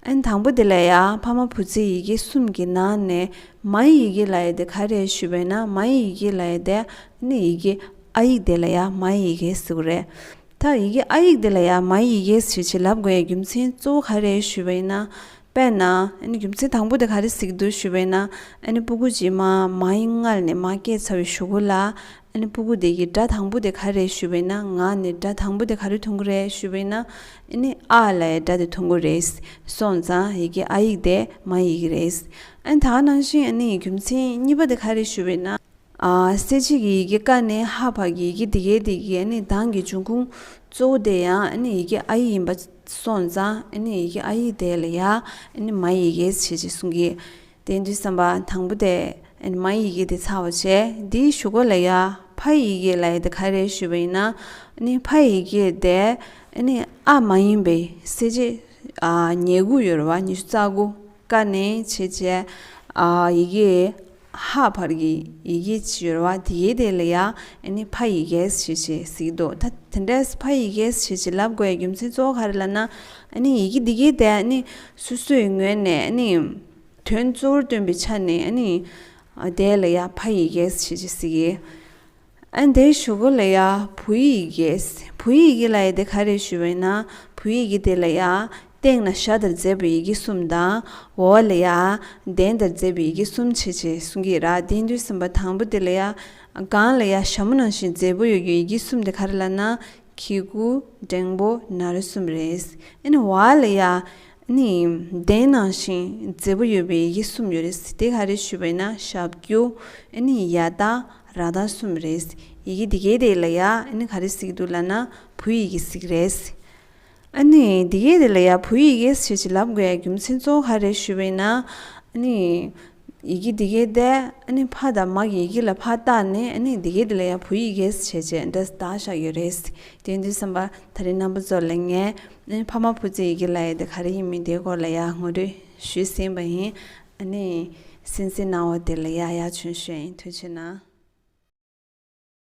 ཨན་དང་པོ་དེ་ལ་ཡང་ཕ་མ་བུ་ཚའི་ཡི་གེ་གསུམ་གྱི་ནང་ནས་མཱའི་ཡི་གེ་ལ་ཡི་དེ་ག་རེད་ཞུས་པས་ན་མཱའི་ཡི་གེ་ལ་ཡི་དེ་ཨནི་ཡི་གེ་ཨ་ཡིག་དེ་ལ་ཡང་མཱའི་ཡི་གེ་ཟེར་བ་རེད། ད་ཡི་གེ་ཨ་ཡིག་དེ་ལ་ཡང་མཱའི་ཡི་གེ་ཞེས་བྱེད་ལབ་དགོས་ཡའི་རྒྱུ་མཚན་གཙོ་བོ་ག་རེད་ཞུས་པ་ཡིན་ན། དཔེར་ན་ཨནི་རྒྱུ་མཚན་དང་པོ་དེ་ག་རེ་ཟིག་འདུག་ཞུས་པས་ན་ཨནི་སྤུ་གུ་རྗེས་མ་མཱའི་མངལ་ནས་མ་སྐྱེས་ཚར་བའི་ཞུ་གུ་ལ་ཨ་ནི་སྤུ་གུ་དེ་གིས་སྒྲ་དང་པོ་དེ་ག་རེད་ཞུས་པས་ན་ང་ནི་སྒྲ་དང་པོ་དེ་ག་རེ་འཐུང་གི་རེད་ཞུས་པས་ན་ཨ་ནི་ཨ་ལའི་སྒྲ་དེ་འཐུང་གི་རེད། སོང་ཙང་ཡི་གེ་ཨ་ཡིག་དེ་མ་ཡི་གེ་རེད། ཨ་ནི་ད་ག་ནང་བཞིན་ཨ་ནི་ཡི་རྒྱུ་མཚན་གཉིས་པ་དེ་ག་རེད་ཞུས་པས་ན། གསལ་བྱེད་ཀྱི་ཡི་གེ་ཀ་ནས་ཧ་བར་གྱི་ཡི་གེ་དེ་གའི་དེ་གའི་ཨ་ནི་གདངས་ཀྱི་འབྱུང་ཁུངས་གཙོ་བོ་དེ་ཡང་ཨ་ནི་ཡི་གེ་ཨ་ཡིག་ཡིན་པ་སོང་ཙང་ཨ་ནི་ཡི་གེ་ཨ་ཡིག་དེ་ལ་ཡང་ཨ་ནི་མ་ཡི་གེ་ཞེས་ཀྱི་གསུང་གི། དེ་འདྲའི་བསམ་པ་དང་པོ་དེས་མ་ཡི་གེ་དེ་ཚར་བར་བྱས། དེའི་གཞུག་ག་ལ་ཡ། ཕ་ཡི་གེ་ལ་ཡ་དེ་ག་རེ་ཞུས་པ་ཡིན་ན། ཕ་ཡི་གེ་དེ་ནི་ཨ་མ་ཡིན་པས་གསལ་བྱེད། ཉེ་དགུ་ཡོད་རེད་བ་ཉི་ཤུ་རྩ་དགུ། ཀ་ནས་ཕྱེད་བྱས། ཡི་གེ་ཧ་བར་གྱི་ཡི་གེ་ཅི་ཡོད་རེད་བ་དེ་གའི་དེ་ལ་ཡ། ཕ་ཡི་གེ་ཞེས་བྱས་གཟིགས་འདུག་ད་དེ་འདྲས་ཕ་ཡི་གེ་ཞེས་བྱས་ལབ་དགོས་པའི་རྒྱུ་མཚན་གཙོ་བོ་ག་རེ་ལ་ན། ཡི་གེ་དེ་གའི་དེ་ནི་སོ་སོའི་ངོས་ནས་ནི། དོན་གཙོ་བོར་སྟོན་པའི་ཆ་ནས་ནི། དེ་ལ་ཡང་ཕ་ཡི་གེ་ཞེས་བྱ་ཞིག་ཡིན། དེའི་ཞུ་སྒོ་ལ་ཡང་བུ་ཡི་གེ། བུ་ཡི་གེ་ལ་ཡང་དེ་ག་རེ་ཞུ་བས་ན་བུ་ཡི་གེ་དེ་ལ་ཡང། སྟེང་ན་ཞྭ་དང་མཛེས་པའི་ཡི་གེ་གསུམ་དང། འོག་ལ་ཡང་གདན་དང་མཛེས་པའི་ཡི་གེ་གསུམ་བྱེད་ཅེས་གསུངས་ཀྱི་ར་དེའི་མདུན་སུམ་པ་དང་པོ་དེ་ལ་ཡང། སྒང་ལ་ཡང་ཞྭ་མོ་ནང་བཞིན་མཛེས་པོ་ཡོད་རྒྱུའི་ཡི་གེ་གསུམ་དེ་ག་རེ་ལགས་ན། ཁྱི་གུ་འབྲིང་པོ་ནར་གསུམ་རེད། ཨེ་ཝྃ་ལི་ཡ། ནི་བདེན་ནང་བཞིན་མཛེས་པོ་ཡོད་པའི་ཡིག་གསུམ་ཡོད་རེད། དེ་ག་རེ་ཞུས་པ་ཡིན་ན་ཞབས་ཀྱུ། ནི་ཡ་ཏཱ་ར་ཏཱ་གསུམ་རེད། ཡི་གེ་འདི་གའི་དེ་ལ་ཡ། ནི་ག་རེ་ཟིག་འདུག་ལ་ན་བུ་ཡི་གེ་ཟིག་རེད། ཨཱ་ནི། འདི་གའི་རི་ལ་ཡ་བུ་ཡི་གེ་ཞེས་བྱིན་རླབས་དགོས་ཡ་རྒྱུ་མཚན་གཙོ་བོ་ག་རེད་ཞུས་པ་ཡིན་ན། ཨཱ་ནི། ཡི་གེ་འདི་གའི་ཟླས་ཨཱ་ནི་ཕ་དང་མ་གི་ཡི་གེ་ལ་ཕ་བཏགས་ནས་ཨཱ་ནི་འདི་གའི་རི་ལ་ཡ་བུ་ཡི་གེ་ཞེས་བྱས་རྗེས་འདི་ཟླ་བཞག་ཡོད་རེད། དེ་འདྲའི་བསམ་པ་ད་རེས་རྣམ་པ་ཚོར་ལེན་ངེས། ཨཱ་ནི་ཕ་མ་བུ་ཚའི་ཡི་གེ་ལ་ཡ་དེ་ག་རེ་ཡིན་མིན་དེའི་སྐོར་ལ་ཡ་ངོ་སྤྲོད་ཞུས་ཟིན་པ་ཡིན། ཨཱ་ནི། སེམས་ཅན་སྣང་བ་དེ་ལ་ཡ་ཡ་བྱོན་ཞེས་ཡིན་ཐོས་བྱེད་ན།